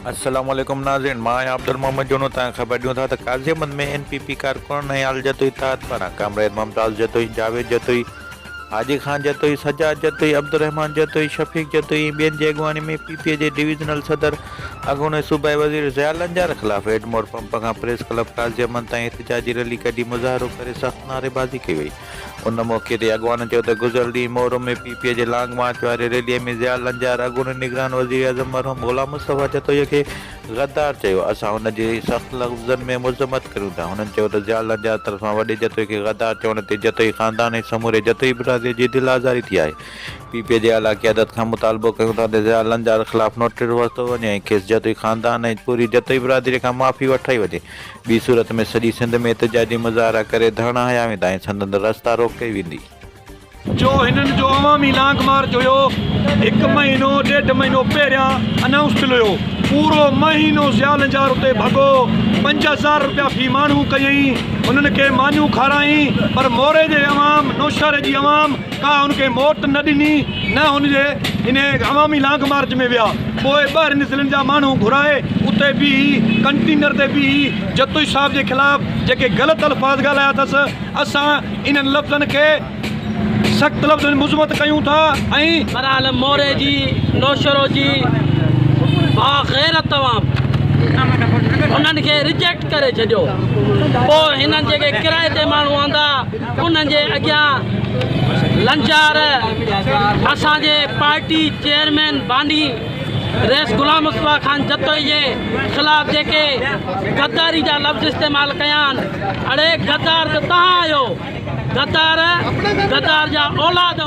السلام عليڪم ناظرين مان آهيان عبدل محمد جونو تان خبر ڏيون ٿا ته Qazi Ahmed ۾ N P P ڪارڪن حيال جتوئي تحت پاران ڪامريڊ ممتاز جتوئي جاويد جتوئي حاجي خان جتوئي سجاد جتوئي عبدالرحمان جتوئي شفيق جتوئي ۽ ٻين جي اڳواڻي ۾ پي پي اي جي ڊويزنل صدر اڳوڻي صوبائي وزير ضياء لنجار خلاف ايڊمور پمپ کان پريس ڪلب قاضي احمد تائين احتجاجي ريلي ڪڍي مظاهرو ڪري سخت نعريبازي ڪئي وئي ان موقعي تي اڳواڻن چيو ته گذريل ڏينهن مورو ۾ پي پي اي جي لانگ مارچ واري ريلي ۾ ضياء لنجار اڳوڻي نگران وزيراعظم مرحوم غلام مصطفيٰ جتوئيء کي غدار چيو، اسان ان جي سخت لفظن ۾ مذمت ڪريون ٿا. هنن چيو ته ضياء لنجار طرفان وڏي جتوئي کي غدار چوڻ تي جتوئي خاندان ۽ سموري جتوئي برادري جي دل آزاري ٿي آهي، پي پي اي جي اعليٰ قيادت کان مطالبو ڪيون ٿا ته ضياء لنجار خلاف نوٽيس ورتو وڃي ۽ کيس جتوئي خاندان ۽ پوري جتوئي برادري کان معافي وٺرائي وڃي. ٻي صورت ۾ سڄي سنڌ ۾ احتجاجي مظاهرا ڪري ڌرڻا هنيا ويندا ۽ سندن رستا روڪ ڪئي ويندي. جو هنن جو عوامي لانگ مارچ هيو هڪ مهينو ڏيڍ مهينو پهريان انائونس ٿيل هيو پورو مهينو ضياء لنجار اتي ڀڳو پنج هزار رپيا في ماڻهو ڪيئين هنن کي مانيون کارائين پر موري جي عوام نوشهري جي عوام ڪا هن کي موٽ نه ڏني نه هن جي انهيء عوامي لانگ مارچ ۾ ويا. پوء ٻاهرين ضلعن جا ماڻهو گهرائي اتي بيهي ڪنٽينر تي بيهي جتوئي صاحب جي خلاف جيڪي غلط الفاظ ڳالهايا اٿس اسان انهن لفظن کي سخت لفظن ۾ مذمت ڪيون ٿا ۽ برحال موري جي نوشهرو جي باغيرت عوام هنن کي رجيڪٽ ڪري ڇڏيو. پوء هنن جيڪي ڪرائي تي ماڻهو آندا. انهن جي اڳيان لنچار اسان جي پارٽي چيئرمين باني رئيس غلام مصطفيٰ خان جتوئي جي خلاف جيڪي غداري جا لفظ استعمال ڪيا آهن اڙي غدار ته توهان آهيو غدار غدار جا اولاد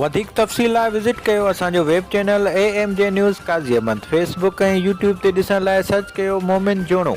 وڌيڪ تفصيل لاء وزٽ ڪيو اسان جو web channel A M G news Qazi Ahmed Facebook ۽ YouTube تي ڏسڻ لاء سرچ ڪيو مومن جوڻو.